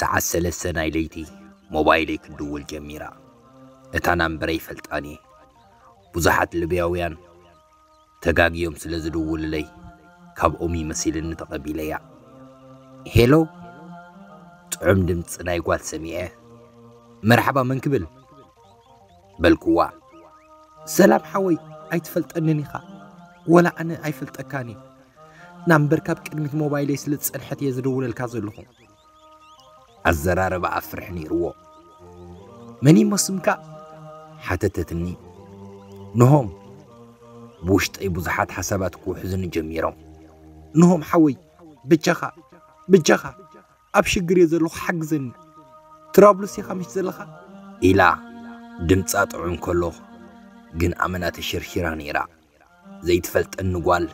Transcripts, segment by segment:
ሰዓት ሰለስተ ናይ ለይቲ ሞባይለይ ክድውል ጀሚራ እታ ናምበረይ ፈልጣን እየ ብዙሓት ልብያውያን ተጋግዮም ስለ ዝድውሉለይ ካብኦም እዩ መሲልኒ ተቐቢለያ። ሄሎ ጥዑም ድምፂ ናይ ጓል ሰሚዐ መርሓባ መን ክብል በልኩዋ። ሰላም ሓወይ ኣይትፈልጠንን ኢኻ ወላ ኣነ ኣይፈልጠካን እዩ ናምበር ካብ ቅድሚት ሞባይለይ ስለ ዝፀንሐት እየ ዝድውለልካ ዘለኹ። ኣዘራርባኣ ፍርሒ ነይርዎ። መን እሞ ስምካ? ሓተተትኒ። ንሆም ብውሽጠይ ብዙሓት ሓሳባት ክውሕዙኒ ጀሚሮም። ንሆም ሓወይ ብጃኻ ብጃኻ ኣብ ሽግር እየ ዘለኹ ሓግዘኒ ትራብሉስ ኢኻ ምሽ ዘለኻ ኢላ ድምፃ ጥዑም ከሎ ግን ኣመና ተሸርሺራ ነይራ። ዘይትፈልጠኒ ጓል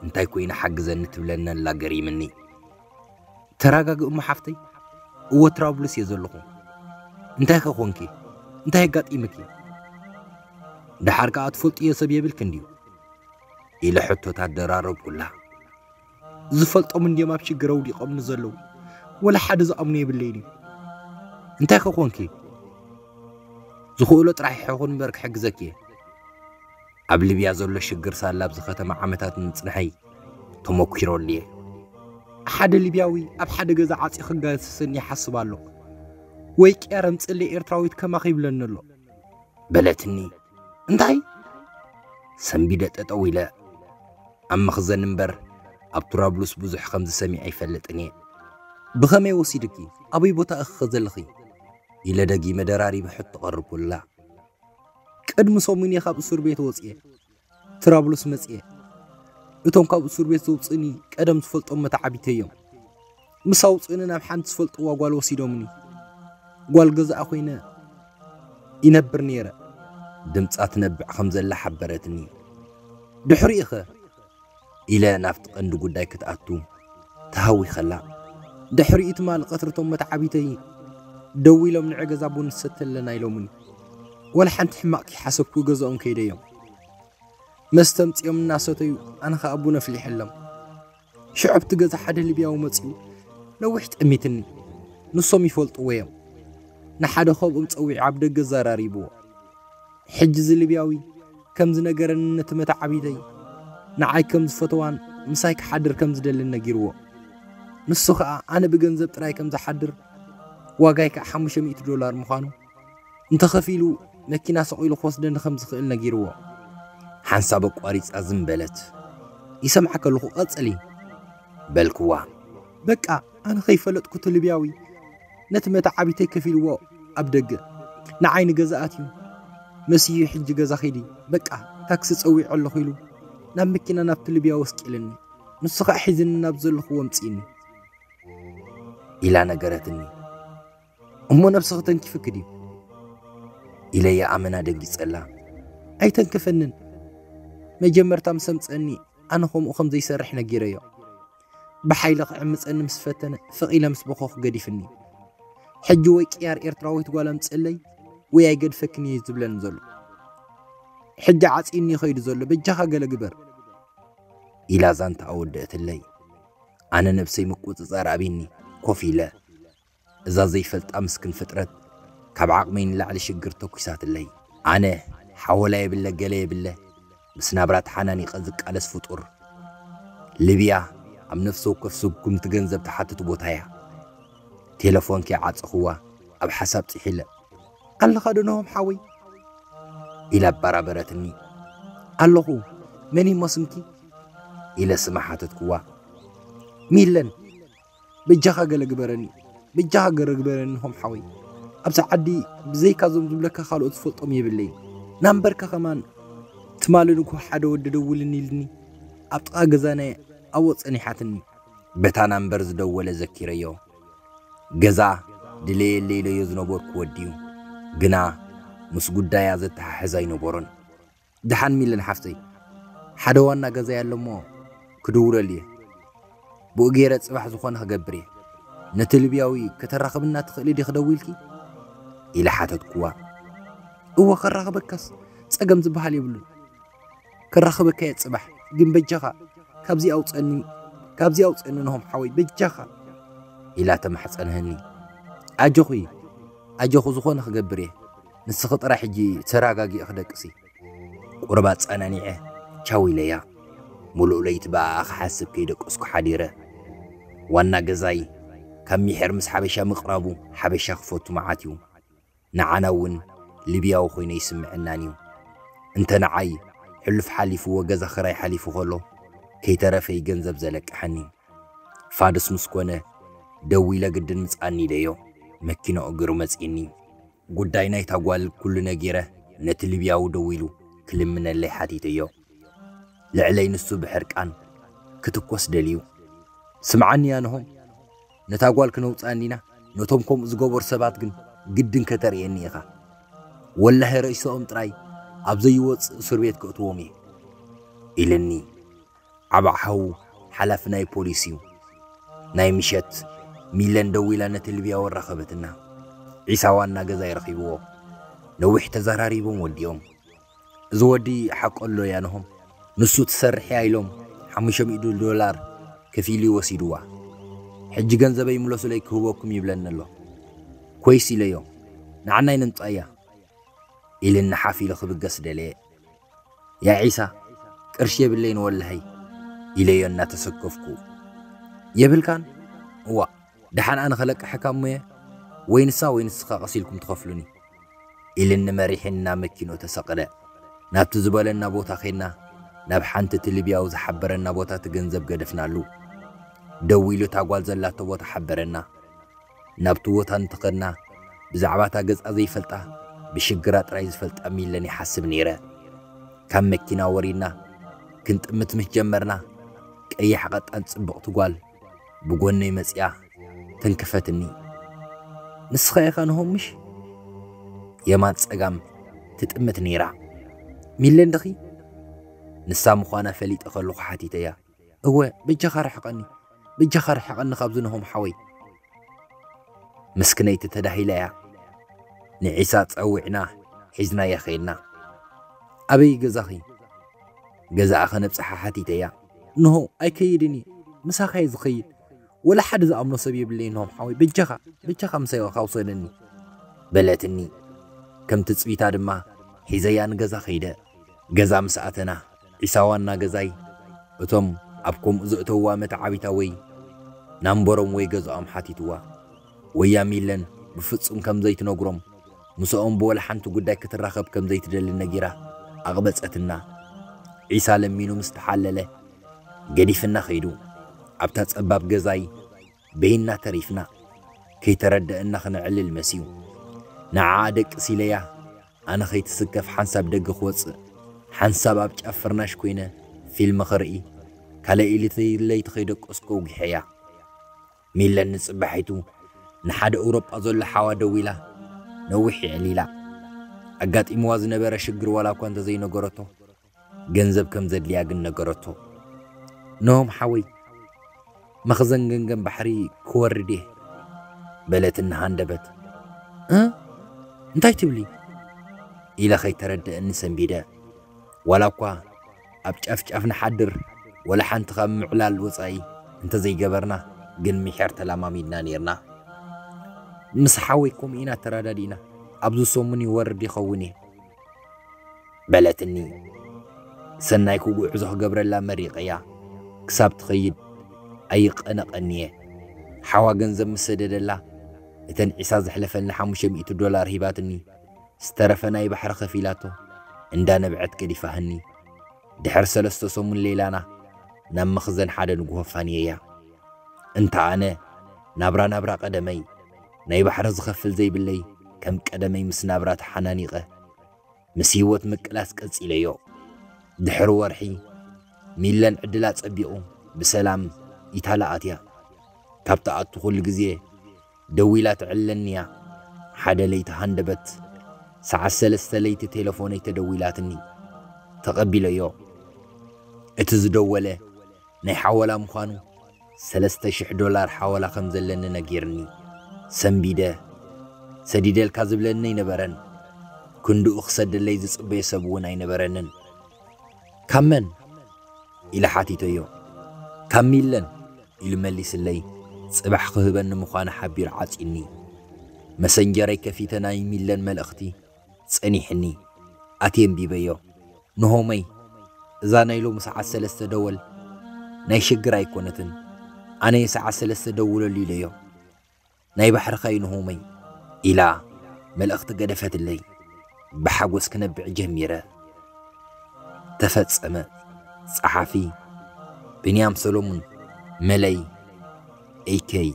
እንታይ ኮይና ሓግዘኒ ትብለኒ ኣላ ገሪምኒ። ተራጋጊ እሞ ሓፍተይ እወ ትራብሉስ እየ ዘለኹ እንታይ ከ ኮንኪ እንታይ ኣጋጢምኪ ደሓር ከኣ ትፈልጥዮ ሰብ የብልክን ድዩ ኢለ ሕቶታት ደራረብኩላ። ዝፈልጦም እንድዮም ኣብ ሽግር ኣውዲቖም ንዘለዉ ወላ ሓደ ዝኣምኖ የብለይን እዩ እንታይ ከኾንኪ ዝኽእሎ ጥራሕ ይሕኹን እምበር ክሕግዘኪ እየ ኣብ ልብያ ዘሎ ሽግር ሳላ ኣብዚ ከተማ ዓመታት ምጽንሐይ ተመኪሮ ኣልየ ሓደ ሊብያዊ ኣብ ሓደ ገዛ ዓፂ ክጋስስን ይሓስብ ኣሎ ወይ ቅያር ኣምፅእለ ኤርትራዊት ከማኺ ይብለኒ ኣሎ በለትኒ እንታይ ሰንቢደ ጠጠው ኢለ ኣብ መኽዘን እምበር ኣብ ቱራብሉስ ብዙሕ ከምዚ ሰሚዐ ኣይፈልጥን እየ ብኸመይ ወሲድኪ ኣበይ ቦታ እኽኸ ዘለኺ ኢለ ደጊመ ደራሪበ ሕቶ ቀርብኩላ ቅድሚ ሰሙን እየ ካብ እሱር ቤት ወፅየ ትራብሉስ መፅየ እቶም ካብ እሱር ቤት ዘውፅእኒ ቀደም ዝፈልጦም መተዓቢተዮም ምስ ኣውፅእኒ ናብ ሓንቲ ዝፈልጥዋ ጓል ወሲዶምኒ ጓል ገዛኣ ኮይነ ይነብር ነይረ ድምፃ ትነብዕ ከም ዘላ ሓበረትኒ ድሕሪኡ ኸ ኢለ ናብቲ ቀንዲ ጉዳይ ክትኣቱ ተሃዊኸላ ድሕሪኡ ትማሊ ቀትሪ እቶም መተዓቢተይ ደው ኢሎም ንዕ ገዛ ቡን ንሰቲ ኣለና ኢሎምኒ ወላ ሓንቲ ሕማቕ ከይሓሰብኩ ገዛኦም ከይደዮም መስተምፅኦም እናሰተዩ ኣነ ከዓ ቡን ኣፍሊሐሎም ሽዑ ኣብቲ ገዛ ሓደ ሊብያዊ መፅኡ ነዊሕ ጠሚትኒ ንሶም ይፈልጥዎ እዮም ንሓደ ከብኦም ፀዊዑ ኣብ ደገ ዘራሪብዎ ሕጂ እዚ ሊብያዊ ከም ዝነገረኒ ነቲ መታዓቢተይ ንዓይ ከም ዝፈተዋን ምሳይ ክሓድር ከም ዝደልን ነጊርዎ ንሱ ከዓ ኣነ ብገንዘብ ጥራይ ከም ዝሓድር ዋጋይ ከዓ 500 ዶላር ምዃኑ እንተኸፊሉ መኪና ሰቒሉ ክወስደኒ ከም ዝኽእል ነጊርዎ ሓንሳብ ኣቋሪጻ ዝም በለት ይሰምዓ ከለኹ ቐጽሊ በልክዋ በቃ ኣነ ከይፈለጥኩ ትልብያዊ ነቲ መታዓቢተይ ከፊልዎ ኣብ ደገ ንዓይ ንገዛኣት እዩ መስዩ ሕጂ ገዛ ኺዲ በቃ ታክሲ ጸዊዑ ኣለኹ ኢሉ ናብ መኪና ናብቲ ልብያ ወስቂልኒ ንሱ ከዓ ሒዝኒ ናብ ዘለኹዎ ምፅእኒ ኢላ ነገረትኒ እሞ ነብሲ ክተንኪፍኪ ድዩ ኢለያ ኣመና ደንጊጸላ ኣይተንክፈንን መጀመርታ ምስ ኣምጸኒ ኣነ ከምኡ ከም ዘይሰርሕ ነጊረዮ ብሓይሊ ክዕምጸኒ ምስ ፈተነ ፍቕ ኢለ ምስ በኸኹ ገዲፍኒ ሕጂ ወይ ቅያር ኤርትራዊት ጓል ኣምጽለይ ወይ ኣይገድፈክን እየ ዝብለኒ ዘሎ ሕጂ ዓጺኒ ይኸይዱ ዘሎ በጃኻ ገለ ግበር ኢላ ዛንታ ኣወደእትለይ ኣነ ነብሰይ ምቁጽጻር ኣብኒ ኮፍ ኢለ እዛ ዘይፈልጣ ምስክን ፍጥረት ካብ ዓቅመይ ንላዕሊ ሽግር ተኩሳትለይ ኣነ ሓወላ የብለ ገለ የብለ ምስ ናብራ ተሓናኒቀ ዝቃለስ ፍጡር ልብያ ኣብ ነፍሲ ወከፍ ስጉምቲ ገንዘብ ትሓትት ቦታ እያ ቴለፎን ከይ ዓጸኹዋ ኣብ ሓሳብ ጺሒለ ኣለኻ ዶ ነሆም ሓወይ ኢላ ኣባራበረትኒ ኣለኹ መን እሞ ስምኪ ኢለ ስማ ሓተትኩዋ ሚለን በጃኻ ገለ ግበረኒ በጃኻ ገረ ግበረኒ ሆም ሓወይ ኣብዛ ዓዲ ብዘይካ ዞም ዝብለካ ካልኦት ዝፈልጦም የብለይን ናምበርካ ከማን ትማልን እኮ ሓደ ወዲ ደውልኒ ኢልኒ ኣብ ጥቓ ገዛና ኣብኦ ጸኒሓትኒ በታ ናምበር ዝደወለ ዘኪረዮ ገዛ ድለየለ ኢለዮ ዝነበርኩ ወዲዩ ግና ምስ ጉዳያ ዘተሓሕዝ ኣይነበሮን ደሓን ሚልን ሓፍተይ ሓደ ዋና ገዛይ ኣሎ እሞ ክድውለሉ እየ ብኡ ገይረ ጽባሕ ዝኾነ ክገብር እየ ነቲ ልብያዊ ከተራኽብና ትኽእሊ ዲ ክደዊልኪ ኢለ ሓተትኩዋ እወ ከራኽበካስ ጸገም ዝበሃል የብሉን ከራኽበካ እየ ጽባሕ ግን በጃኻ ካብዚ ኣውፀኒ ካብዚ ኣውፀኒ ንሆም ሓወይ በጃኻ ኢላ ተማሕፀንህኒ ኣጆኺ ኣጆኹ ዝኾነ ክገብር እየ ንስኺ ጥራሕ ሕጂ ተራጋጊእኺ ደቅሲ። ቁሩብ ኣጸናኒዐ ቻው ኢለያ። ሙሉእ ለይቲ ብኣኣ ክሓስብ ከይደቀስኩ ሓዲረ። ዋና ገዛይ ካብ ሚሒር ምስ ሓበሻ ምቅራቡ ሓበሻ ክፈቱ መዓት እዩ። ንዓና እውን ሊብያዊ ኮይኑ ኣይስምዐናን እዩ። እንተ ንዓይ ሕሉፍ ሓሊፍዎ ገዛ ክራይ ሓሊፉ ከሎ ከይተረፈ እዩ ገንዘብ ዘለቅሐኒ። ፋዱስ ምስ ኮነ ደዊለ ግድን ምጻኒ ኢለዮ መኪናኡ ገሩ መጺእኒ። ጉዳይ ናይታ ጓል ኩሉ ነጊረ ነቲ ሊብያዊ ደዊሉ ክልምነለይ ሓቲተዮ። ልዕለይ ንሱ ብሕርቃን ክትኮስ ደልዩ። ስምዓኒ ኣንሆም፣ ነታ ጓል ክነውጽኣ እንዲና፣ ነቶም ከምኡ ዝገበሩ ሰባት ግን ግድን ከተርእየኒ ኢኻ። ወላሂ ሬስኦም ጥራይ ኣብ ዘይወጽእ እሱርቤት ከእትዎም እየ። ኢልኒ። ዓባዕ ሓው ሓላፊ ናይ ፖሊስ እዩ። ናይ ምሸት ሚለን ደዊላ ነቲ ልብያዊ ኣራኸበትና። ዒሳ ዋና ገዛይ ረኺብዎ። ነዊሕ ተዘራሪቦም ወዲኦም። እዚ ወዲ ሓቁ ኣሎ ያንሆም ንሱ ትሰርሕያ ኢሎም ሓሙሽተ ሚእቲ ዶላር ከፊሉ እዩ ወሲድዋ። ሕጂ ገንዘበይ ምለሱለይ ክህበኩም ይብለኒ ኣሎ። ኮይስ ኢለዮ፣ ንዓናይ ነምጽኣያ ኢልኒ ሓፍ ኢሉ ክብገስ ደለየ። ያዕ ዒሳ ቅርሺ የብለይን ወላሂ ኢለዮ እናተሰከፍኩ። የብልካን? እዋእ ደሓን ኣነ ከለቅሐካ እሞ'የ ወይ ንሳ ወይ ንስኻ ቀስ ኢልኩም ትኸፍሉኒ ኢልኒ መሪሒኒ ናብ መኪንኡ ተሰቕለ። ናብቲ ዝበለና ቦታ ኬድና ናብ ሓንቲ እቲ ሊብያዊ ዝሓበረና ቦታ እቲ ገንዘብ ገደፍናሉ። ደዊሉ እታ ጓል ዘላቶ ቦታ ሓበረና። ናብቲ ቦታ እንተኸድና ብዛዕባ እታ ገጻ ዘይፈልጣ ብሽግራ ጥራይ ዝፈልጣ ሚለን ይሓስብ ነይረ። ካብ መኪና ወሪድና ክንጥምት ምስ ጀመርና ቀያሕ ቐጣን ጽብቕቲ ጓል ብጎነይ መጺኣ ተንክፈትኒ። ንስኻ ኢኻ ንሆም ምሽ? የማን ጸጋም ትጥምት ነይራ። ሚለን ድኺ? ንሳ ምዃና ፈሊጠ ከለኹ ሓቲተያ። እወ በጃኻ ርሕቀኒ በጃኻ ርሕቀኒ ካብዚ ናሆም ሓወይ። ምስክነይቲ ተዳሂላ እያ ንዒሳ ጸዊዕና ሒዝናያ ከይድና ኣበይ እዩ ገዛኺ ገዛኣ ከነብጽሓ ሓቲተያ እንሆ ኣይከይድን እየ ምሳኻ እየ ዝኸይድ ወላ ሓደ ዝኣምኖ ሰብ የብለይ ናሆም ሓወይ በጃኻ በጃኻ ምሳይኻ ውሰደኒ በለትኒ ከም ትጽቢታ ድማ ሒዘያ ንገዛ ከይደ ገዛ ምስ ኣተና ዒሳ ዋና ገዛኢ እቶም ኣብ ከምኡ ዘእተውዋ መተዓቢታ ወይ ናምበሮም ወይ ገዝኦም ሓቲትዋ ወያ ሚለን ብፍጹም ከም ዘይትነግሮም ምስኦም ብወላሓንቲ ጉዳይ ክትራኸብ ከም ዘይትደሊ ነጊራ ኣቕበጸትና ዒሳ ለሚኑ ምስ ተሓለለ ገዲፍና ከይዱ ኣብታ ጸባብ ገዛይ በይንና ተሪፍና ከይተረደእና ክነዕልል መሲዩ ንዓኣ ደቅስ ኢለያ ኣነ ከይትስከፍ ሓንሳብ ደገ ክወጽእ ሓንሳብ ኣብ ጫፍ ፍርናሽ ኮይነ ፊልሚ ክርኢ ካልኣይ ኢሊተይ ለይቲ ከይደቀስኩ ኣውጊሐያ ሚለን ንጽባሒቱ ንሓደ እውሮጳ ዘሎ ሓዋ ደዊላ ነዊሕ የዕሊላ ኣጋጢምዋ ዝነበረ ሽግር ዋላኳ እንተዘይነገረቶ ገንዘብ ከም ዘድልያ ግን ነገረቶ። ኖሆም ሓወይ መኽዘን ገንገን ባሕሪ ክወርድ እየ በለት እናሃንደበት። እ እንታይ ትብሊ ኢለ ከይተረድእኒ ሰንቢደ ዋላ እኳ ኣብ ጫፍጫፍ ንሓድር ወላ ሓንቲ ካብ ምዕላል ወፃኢ እንተዘይገበርና ግን ምሒር ተላማሚድና ነይርና። ምስ ሓወይ ከምኡ ኢና ተረዳዲእና ኣብዚ ሰሙን ይወርድ ይኸውን እየ። በለትኒ። ሰናይ ክጉዕዞ ክገብረላ መሪቐያ ክሳብ ትኸይድ ኣይቐነቐን'የ። ሓዋ ገንዘብ ምስ ሰደደላ፣ እተን ዒሳ ዘሕለፈልኒ ሓሙሽተ ሚእቲ ዶላር ሂባትኒ፣ ዝተረፈ ናይ ባሕሪ ከፊላቶ እንዳ ነብዐት ገዲፋህኒ። ድሕሪ ሰለስተ ሰሙን ሌላና ናብ መኽዘን ሓደ ንግሆ ኣፋንየያ። እንተ ኣነ ናብራ ናብራ ቀደመይ፣ ናይ ባሕሪ ዝኸፍል ዘይብለይ ከም ቀደመይ ምስ ናብራ ተሓናኒቐ። ምስ ህይወት ምቅላስ ቀጺለዮ። ድሕሪ ወርሒ፣ ሚለን ዕድላ ጸቢቑ ብሰላም ኢታላ ኣትያ። ካብ ትኣቱ ኩሉ ግዜ ደዊላ ትዕለኒ'ያ። ሓደ ለይቲ ሃንደበት ሰዓት ሰለስተ ለይቲ ቴለፎነይ ተደዊላትኒ። ተቐቢለዮ። እቲ ዝደወለ ናይ ሓወላ ምዃኑ ሰለስተ ሽሕ ዶላር ሓወላ ከም ዘለኒ ነጊርኒ ሰንቢደ። ሰዲደልካ ዝብለኒ ኣይነበረን። ክንድኡ ክሰደለይ ዝጽበዮ ሰብ እውን ኣይነበረንን። ካብ መን? ኢለ ሓቲተዮ። ካብ ሚለን ኢሉ መሊስለይ። ጽባሕ ክህበኒ ምዃኑ ሓቢሩ ዓጽዩኒ። መሰንጀረይ ከፊተ ናይ ሚለን መልእኽቲ። ጸኒሕኒ ኣትየ ኣንቢበዮ ንሆመይ እዛ ናይ ሎሚ ሰዓት ሰለስተ ደወል ናይ ሽግር ኣይኮነትን ኣነየ ሰዓት ሰለስተ ደውለሉ ኢለዮ ናይ ባሕርኻ እዩ ንሆመይ ኢላ መልእኽቲ ገደፈትለይ ብሓጎስ ክነብዕ ጀሚረ ተፈጸመ ጸሓፊ ብንያም ሰሎሙን መለይ ኤከይ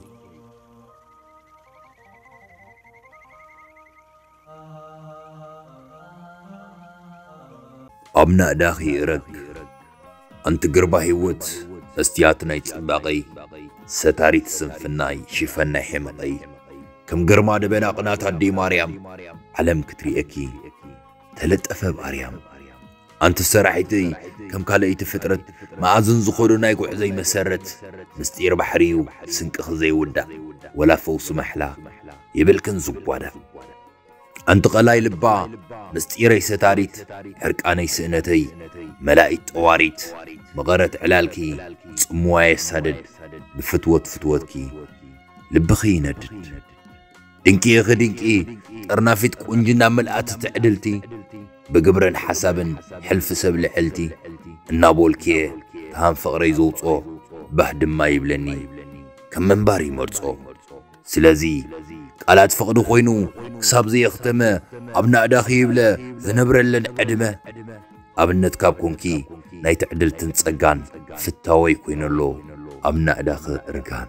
ኣብ ናእዳኺ እረግ ኣንቲ ግርባ ሂወት መስትያት ናይ ጽባቐይ ሰታሪት ስንፍናይ ሽፈን ናይ ሒመቐይ ከም ግርማ ደበና ቅናት ኣደይ ማርያም ዓለም ክትርእየኪ ተለጠፈ ብ ኣርያም ኣንቲ ሰራሒተይ ከም ካልኣይቲ ፍጥረት መኣዝን ዝኾዶ ናይ ጉዕዘይ መሰረት ምስጢር ባሕሪ እዩ ስንቅኺ ዘይውዳእ ወላ ፈውሲ ማሕላ የብልክን ዝጓዳ ኣንቲ ቐላይ ልባ ምስጢረይ ሰታሪት ሕርቃነይ ስእነተይ መላኢት ጠዋሪት መቐረት ዕላልኪ ጽምዋ የሳድድ ብፍትወት ፍትወትኪ ልብኺ ይነድድ ድንቂ ኢኺ ድንቂ ጠርናፊት ቁንጅና ምልኣቲ ትዕድልቲ ብግብርን ሓሳብን ሕልፊ ሰብ ልዕልቲ እናቦልክየ ትሃም ፍቕረይ ዘውጾ ባህ ድማ ይብለኒ ከም ምንባር ይመርጾ ስለዚ ቃላት ፍቕዲ ኮይኑ ክሳብ ዘየኽተመ ኣብ ናእዳኺ ይብለ ዝነብረለን ዕድመ ኣብነት ካብ ኮንኪ ናይ ትዕድልትን ጸጋን ፍታወይ ኮይነሎ ኣብ ናእዳኺ እርጋን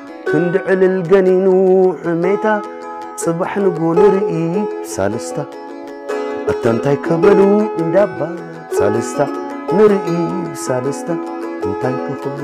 ክንዲ ዕልል ገኒኑ ሕሜታ ጽባሕ ንግሆ ንርኢ ሳልስታ ኣታ እንታይ ከበሉ እንዳባ ሳልስታ ንርኢ ሳልስታ እንታይ ከኽብሉ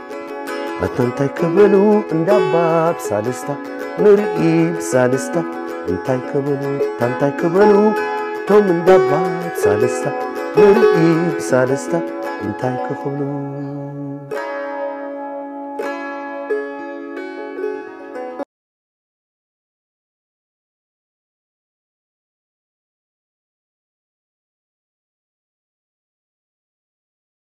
ኣታ እንታይ ክብሉ እንዳባ ብሳልስታ ንርኢ ብሳልስታ እንታይ ክብሉ ኣታ እንታይ ክብሉ እቶም እንዳባ ብሳልስታ ንርኢ ብሳልስታ እንታይ ክኽብሉ